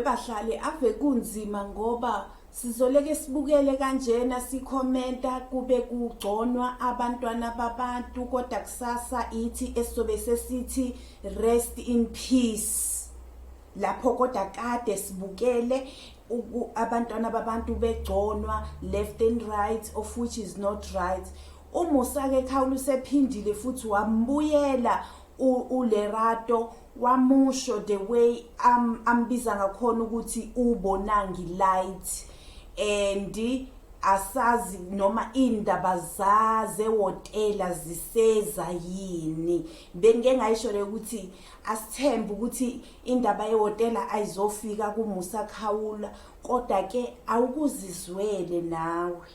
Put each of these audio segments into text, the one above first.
bahlali ave kunzima ngoba sizoleke sibukele kanjena sikhomenta kube kugconwa abantwana babantu kodwa kusasa ithi esizobe sesithi rest in peace lapho kodwa kade sibukele abantwana babantu begconwa left and right of which is not right umusake khawula usephindile futhi wambuyela ulerato wamusho the way am ambiza ngakhona ukuthi ubonangi light and asazi noma indaba zaze wotela ziseza yini bengike ngayisho le ukuthi Asithembe ukuthi indaba yehhotela ayizofika kuMusa Khawula kodwa ke awukuzizwele nawe.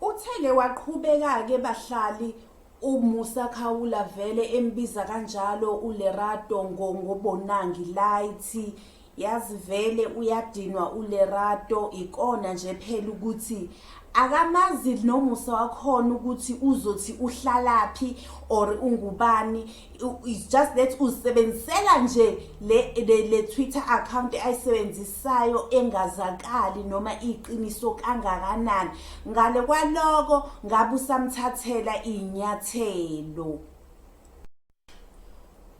Uthele waqhubeka-ke bahlali uMusa Khawula vele embiza kanjalo uLerato ngobonangi light yazi vele uyadinwa ulerato ikona nje phela ukuthi akamazi nomusa wakhona ukuthi uzothi uhlalaphi or ungubani it's just that usebenzisela nje le, le, le twitter account ayisebenzisayo engazakali noma iqiniso kangakanani ngale kwaloko ngabe usamthathela iy'nyathelo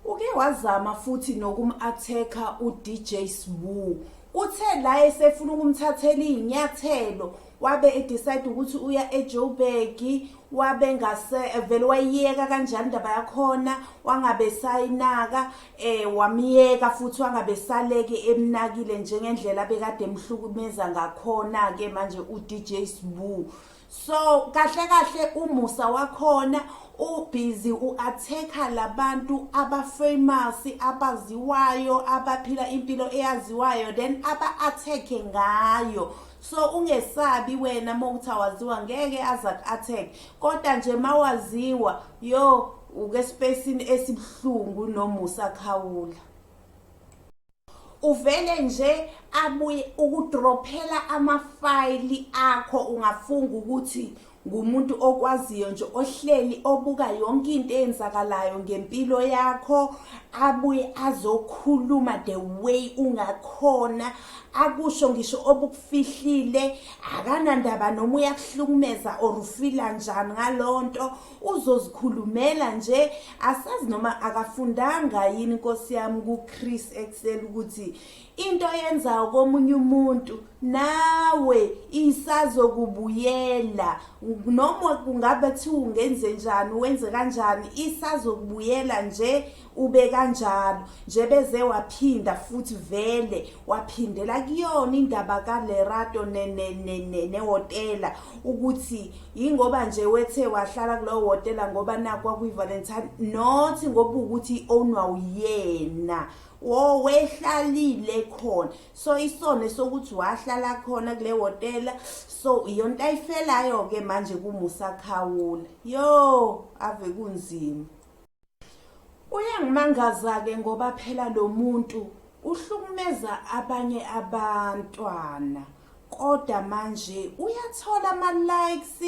Uke wazama futhi nokum-athekha uDJ Sbu. Uthe la esefuna ukumthathela iy'nyathelo wabe edecide ukuthi uya ejoburg wabe ngase vele wayiyeka kanjani indaba yakhona wangabe sayinaka um eh, wamyeka futhi wangabe saleke emnakile njengendlela bekade emhlukumeza ngakhona-ke manje u-dj sbu so kahle kahle umusa wakhona ubhizi u-athekha labantu abafamous abaziwayo abaphila impilo eyaziwayo then aba-athekhe ngayo so ungesabi wena uma ukuthi awaziwa ngeke aze aku-athekhe kodwa nje uma waziwa yo ukespacini esibuhlungu nomusa khawula uvele nje abuye ukudrophela amafayili akho ungafunga ukuthi ngumuntu okwaziyo nje ohleli obuka yonke into eyenzakalayo ngempilo yakho abuye azokhuluma the way ungakhona akusho ngisho obukufihlile akanandaba noma uyakuhlukumeza or ufila njani ngalonto uzozikhulumela nje asazi noma akafundanga yini inkosi yami kuChris Excel ukuthi into yenzayo komunye umuntu nawe isazokubuyela noma kungabe kuthiwa ungenze njani wenze kanjani isazokubuyela nje ube kanjalo nje beze waphinda futhi vele waphindela kuyona indaba kalerato nehotela ukuthi yingoba nje wethe wahlala kulowo hotela ngoba nakwa kwi-valentine not ngoba ukuthi i-ownwa uyena wo wehlalile khona so isono sokuthi wahlala khona kule hotela so iyonto ayifelayo-ke manje kumusakhawula yo ave kunzima Uyangimangaza-ke ngoba phela lo muntu uhlukumeza abanye abantwana kodwa manje uyathola ama-likes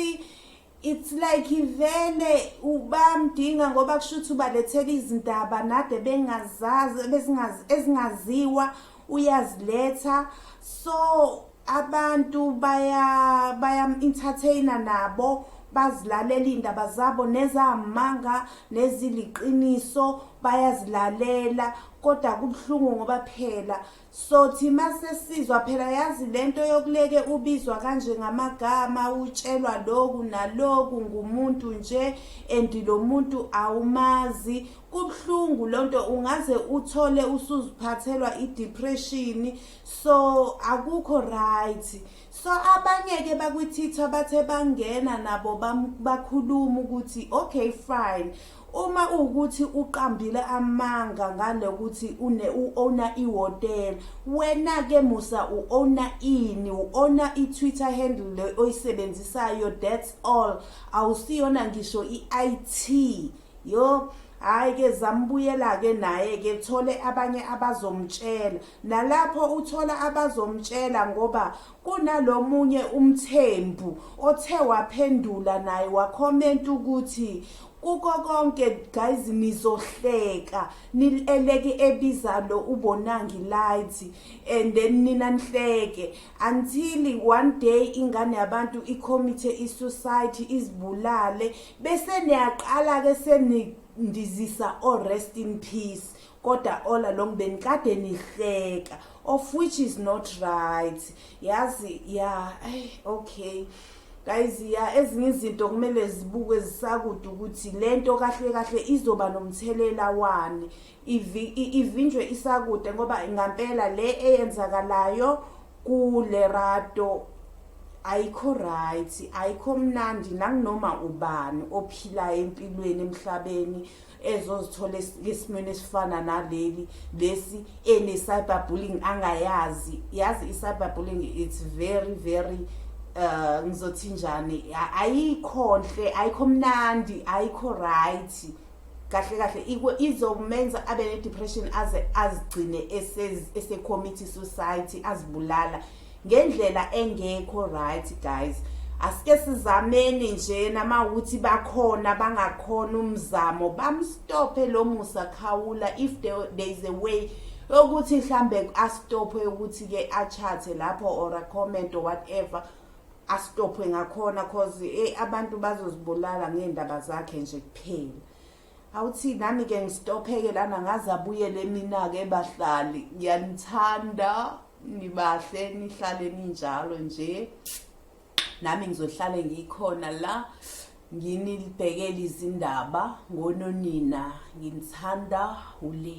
it's like ivele ubamdinga ngoba kusho ukuthi ubalethela izindaba nade bengazazi ezingaziwa uyaziletha so abantu baya bayam-entertaina nabo bazilalela iy'ndaba zabo nezamanga neziliqiniso bayazilalela kodwa kubuhlungu ngoba phela sothi uma sesizwa phela yazi le nto yokuleke ubizwa kanje ngamagama utshelwa loku naloku ngumuntu nje and lo muntu awumazi kubuhlungu loo nto ungaze uthole usuziphathelwa idepression so akukho right so abanye ke bakwithitha bathe bangena nabo bakhuluma ukuthi okay fine uma ukuthi uqambile amanga ngale ukuthi une uowner ihotel wena ke musa uowner ini uowner iTwitter handle le oyisebenzisayo that's all awusiyona ngisho iIT yo hayi ke zambuyela ke naye ke thole abanye abazomtshela Nalapho uthola abazomtshela ngoba kunalomunye umthembu othe waphendula naye wakhomenta ukuthi kuko konke guys nizohleka nileleke ebiza lo ubonangi light and then nina nihleke until one day ingane yabantu icommit isuicide izibulale bese niyaqala ke seni ndizisa o oh, rest in peace Koda Ola lomndeni kade nihleka of which is not right yazi ya ay okay guys ya ezinye izinto kumele zibukwe zisakude ukuthi lento kahle kahle izoba nomthelela wani ivinjwe isakude ngoba ngampela le eyenzakalayo kule rato ayikho right ayikho mnandi nanginoma ubani ophilayo empilweni emhlabeni ezozithola esimweni esifana naleli lesi ene cyber bullying angayazi yazi i cyber bullying it's very very uh ngizothi njani ayikho nhle ayikho mnandi ayikho right kahle kahle izomenza abe ne depression aze azigcine ese committee society azibulala ngendlela engekho right guys asike sizameni nje namawuthi bakhona bangakhona umzamo bamstophe lo musa khawula if there, there is a way ukuthi mhlambe astophe ukuthi ke achathe lapho or a comment or whatever astophe ngakhona cause eh, abantu bazozibulala ngendaba zakhe nje kuphela Awuthi nami ke ngistopheke lana ngaze abuyele mina ke bahlali ngiyanithanda nibahle nihlale ninjalo nje nami ngizohlale ngikhona la nginibhekele izindaba ngononina nginithanda ule